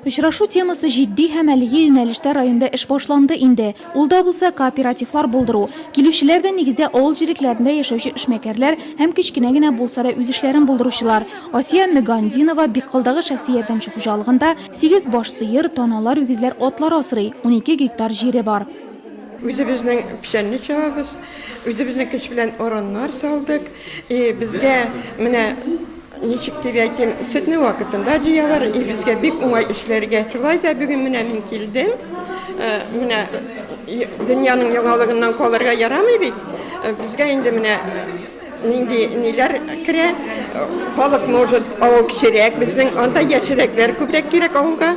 Очрашу темасы җитди һәм әлеге юнәлештә районда эш башланды инде. Ул да булса, кооперативлар булдыру. Килүчеләр дә, нигездә, авыл җирлекләрендә яшәүче эшмәкәрләр һәм кечкенә генә булса да үз эшләрен булдыручылар. Асия Мөгандинова Биккылдагы шәхси ярдәмче хуҗалыгында сигез баш сыер, таналар, үгезләр, атлар асрый, унике гектар җире бар. Үзебезнең печәнне чабабыз, үзебезнең көч белән ороннар салдык. И безгә менә Ничек дип әйтим, сөтне вакытында җыялар, и безгә бик уңай эшләргә. Шулай да бүген менә мин килдем. Э, менә дөньяның яңалыгыннан калырга ярамый бит. Э, безгә инде менә нинди ниләр керә. Халык может авыл кечерәк, безнең анда яшьрәкләр күбрәк кирәк авылга.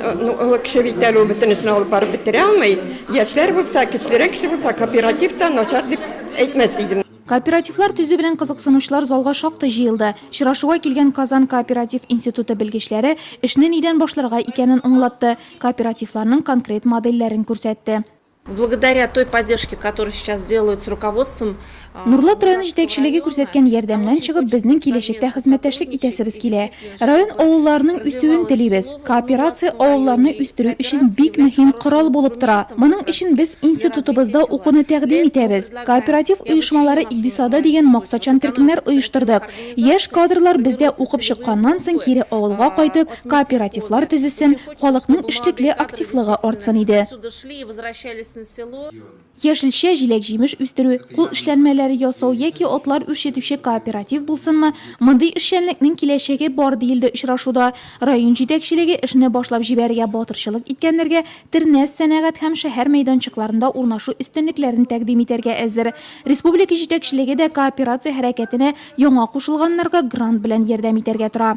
Э, ну, олы кеше бит әле ул бөтенесен алып барып бетерә алмый. Яшьләр булса, кечерәк кеше булса, кооператив та начар дип әйтмәс идем. Кооперативлар төзү белән кызыксынучылар залга шактый җыелды. Чырашуга килгән Казан кооператив институты белгечләре эшне нидән башларга икәнен аңлатты, кооперативларның конкрет модельләрен күрсәтте. Благодаря той поддержке, которую сейчас делают с руководством, Нурлат районы җитәкчелеге күрсәткән ярдәмнән чыгып, безнең киләчәктә хезмәттәшлек итәсебез килә. Район авылларының үсүен телибез. Кооперация авылларны үстерү өчен бик мөһим корал булып тора. Моның өчен без институтыбызда укуны тәкъдим итәбез. Кооператив оешмалары икъдисады дигән максатчан төркемнәр оештырдык. Яшь кадрлар бездә укып чыкканнан соң кире авылга кайтып, кооперативлар төзесен, халыкның эшлекле активлыгы артсын иде. Яшелчә, җиләк-җимеш үстерү, кул эшләнмәләре ясау яки атлар үрчетүче кооператив булсынмы, мондый эшчәнлекнең киләчәге бар, диелде очрашуда. Район җитәкчелеге эшне башлап җибәрергә батырчылык иткәннәргә Тернәс сәнәгать һәм шәһәр мәйданчыкларында урнашу өстенлекләрен тәкъдим итәргә әзер. Республика җитәкчелеге дә кооперация хәрәкәтенә яңа кушылганнарга грант белән ярдәм итәргә тора.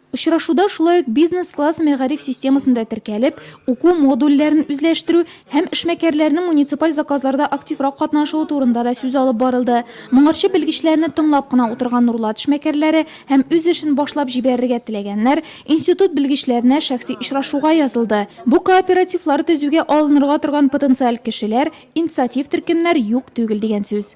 Очрашуда шулай ук бизнес-класс мәгариф системасында теркәлеп, уку модульләрен үзләштерү һәм эшмәкәрләрнең муниципаль заказларда активрак катнашуы турында да сүз алып барылды. Моңарчы белгечләрне тыңлап кына утырган Нурлат эшмәкәрләре һәм үз эшен башлап җибәрергә теләгәннәр институт белгечләренә шәхси очрашуга язылды. Бу кооперативлар төзүгә алынырга торган потенциаль кешеләр, инициатив төркемнәр юк түгел дигән сүз.